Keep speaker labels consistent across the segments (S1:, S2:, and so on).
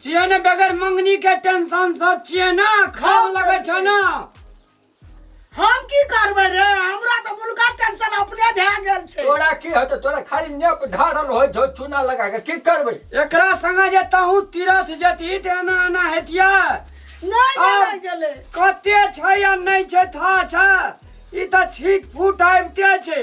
S1: छियै ने बगैर मंगनी के टेंशन सब छियै ना खराब लगे छै ना
S2: हम की करबै रे हमरा तऽ मुलका टेंशन अपने भए गेल छै तोरा की होतो तोरा
S3: खाली नेप ढारल होय छौ चूना लगा के की करबै एकरा संगे जे
S1: तहू तीरथ जती ते एना एना हेतिया नहि आब-
S2: भेलै गेलै कते छै
S1: या नहि छै था छै ई तऽ छीट फूट आबिते छै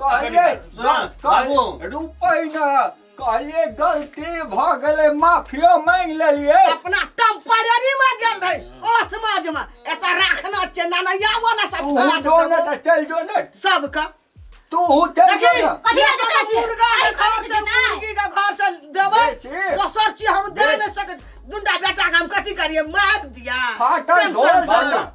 S4: कहलिए बाबू रुपै
S3: ना कहलिए गलती भ गेलै माफियो मांग लेलिए अपना टेम्पररी
S2: में गेल रहे ओ समाज में एता राखना छै ना ना या वाला सब तू फाट जो ने देबो। त चल
S3: जो ने सब का
S2: तू हु चल
S3: जो देखी ने कथी लए जेतै छी? मुर्गा
S5: के अरे घर
S2: कथी से जेतै? मुर्गी के घर से देबै बेसी। दोसर चीज हम दे बेसी। नहि सकैत दुंडा बेटा के हम कथी करिए मार दिया फाटल टेंशन ढोल
S3: से। बना।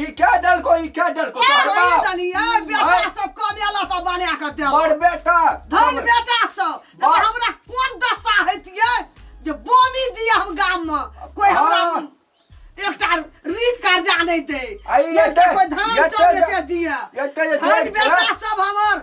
S2: ई क्या डल को
S3: ई क्या डल को ए, तोहर वही बाप दली, ए, बेटा आय।
S2: सब कमेला सब बना के देलक। बड़ बेटा
S3: धन बेटा
S2: सब नहि तऽ बड़- हमरा कोन दशा हेतियै जे बोमी दिए हम गाम मे कोई हमरा हाँ। एकटा ऋण कर्जा नहि दे आइ नहि
S3: तऽ एते-
S2: कोई धान एते- चाउर एते दिए एते- एते- धन
S3: बेटा सब
S2: हमर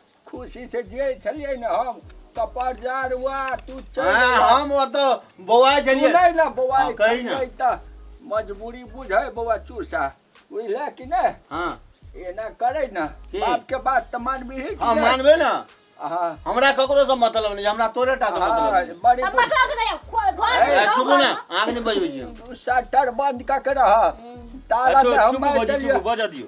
S3: खुशी से जियै छलियै ने हम तऽ परजारवा तू चल हाँ, हम ओतऽ
S4: बौआ तू छलियै नहि ने बौआ हाँ, कही
S3: ना। छलियै तऽ मजबूरी बुझै बौआ चूसा बुझले कि ने हाँ एना
S4: करे
S3: ना की? बाप के बात तऽ मानबी ही हाँ मानबे ना
S4: हाँ हमरा
S3: ककरो से
S4: मतलब नहीं हमरा तोरे टा से मतलब हाँ, नहीं। बड़ी अब मतलब के नहीं
S3: खो-
S5: घर ए, में ए, रहो, चुप घर ना में।
S4: आग नहीं बजबै छी हम। बुद्धि। शटर बंद कऽ
S3: के रह ताला अच्छा, में हम चुप मारि बजू, देलियै चुप बजऽ दियौ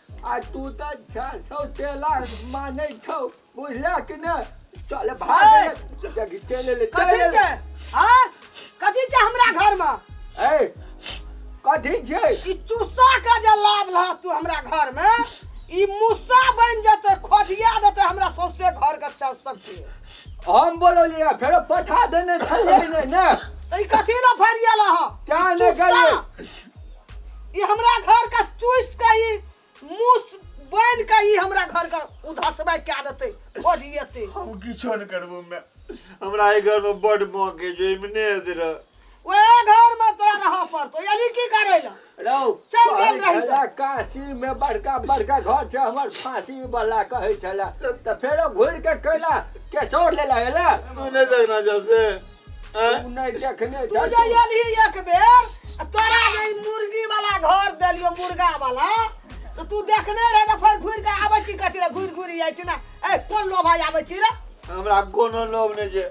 S3: आ तू तऽ छह सौ टेला मानै छौ बुझला कि ने चल भाग ए! रे, जगी चल ले चल कथी ले छै
S2: हाँ कथी छै हमरा घर में ए
S3: कथी छै ई चूसा के
S2: जे लाभ लह तू हमरा घर में ई मुस्सा बन जेते खोदिया देते हमरा सौसे घर के चल सकते हम
S3: बोललियै फेरो पठा देने छलियै ने ने तो ई कथी
S2: ला फरिया लह क्या ने गेलियै ई हमरा घर का चूस के ई मुस बन के ई हमरा घर का उधसबे क्या देते ओरियते हम किछो नहि
S4: करबो मे हमरा एहि घर मे बड मौके छै एहिमे नहि हेतै रह ओए घर
S2: में तोरा रह पड़तो यानी की करे ला रहू चल
S3: गेल रही
S2: तो। काशी
S3: मे बड़का बड़का घर छै हमर फांसी वाला कहै छला तऽ फेरो घुरि के कैला केसौर लेला एला तू नहि देखना जा
S4: से
S3: आँय? तू नहि देखने तू जा जे एलही
S2: एक बेर आ तोरा जे ई मुर्गी वाला घर देलियो मुर्गा वाला तो तू देखने रहे तो फिर घुर के आबै छी कथी रे घुर घुर जाइ छी ना ए कोन लोभा आबै छी रे हमरा कोनो
S4: लोभ नहि छै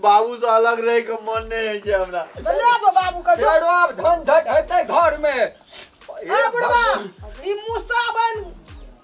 S4: बाबू से अलग रहे के मन नहि होइ छै हमरा तो ले दो बाबू के
S2: जो फेरो आब झंझट
S3: हेतै घर में ए आबड़वा
S2: भगवान। ई मुसा बन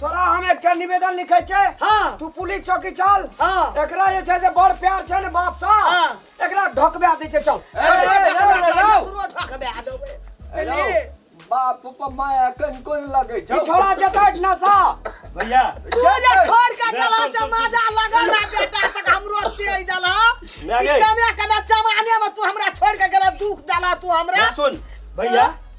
S2: तोरा
S1: हम एकटा निवेदन लिखै छै हाँ तू पुलिस
S2: चौकी
S1: चल हाँ एकरा जे छै
S2: से बड़
S1: प्यार छै ने बाप सा हाँ। एकरा
S2: ढकबा दै
S1: छै चल
S3: बाप पर माया कन कोन लगे छौ छोड़ा जेतै
S1: नशा भैया
S6: पूजा
S2: छोड़ के चला से मजा लगल ना बेटा से हमरो दे देला मैं गई। कमे
S6: कमे जमाने
S2: में तू हमरा छोड़ के गेला दुख देला तू हमरा सुन भैया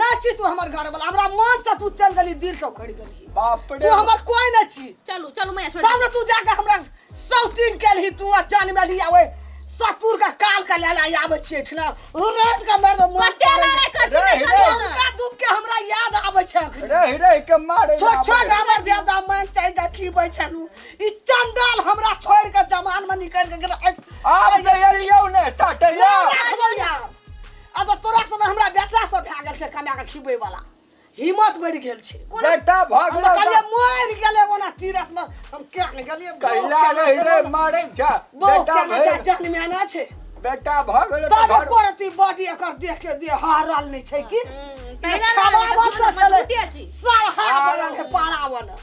S3: ना छी तू हमर
S2: घर वाला हमरा मन से तू चल गली दिल से उखड़ गली बाप तू रे हमर
S3: कोई ना
S2: छी
S3: चलू
S2: चलू मैया छोड़ तब
S5: ना तू जाके हमरा
S2: सौतीन के लिए तू जान में लिया ओए ससुर का काल का ले ले आवे छी ठना रेट का मर दो मोर कटे ला रे कटे रे,
S5: रे, रे। उनका दुख के हमरा
S2: याद आवे छै अखन। रह रह के मारे
S3: छोट छोट हमर
S2: देवता मन चाहि दा की बै छलू ई चंडाल हमरा छोड़ के जमान में निकल के गेल आब जइया ने साटैया
S3: राखबो यार
S2: अब तऽ तोरा सने हमरा बेटा सब भए गेल छै कमाए कऽ खिबै वाला हिम्मत बढ़ि गेल छै बेटा भऽ हम तऽ गेलौ
S3: कहलियै तऽ मरि
S2: गेलै ओना तीरथ मे हम किया ने गेलियै बौह कैला केना रहि छै, रे
S3: मरै छ बौह बेटा केना छै, भऽ
S2: जान में आना
S3: छै
S2: बेटा भऽ गेलौ
S3: तऽ तब घर एको रति
S2: बॉडी
S3: एकर
S2: देख के दे हारल नहि छै कि तहिना खावा
S5: लागल, बस छलै
S2: मजबूते
S5: छी।
S2: सरहा
S5: बनल
S2: है पाड़ा बनल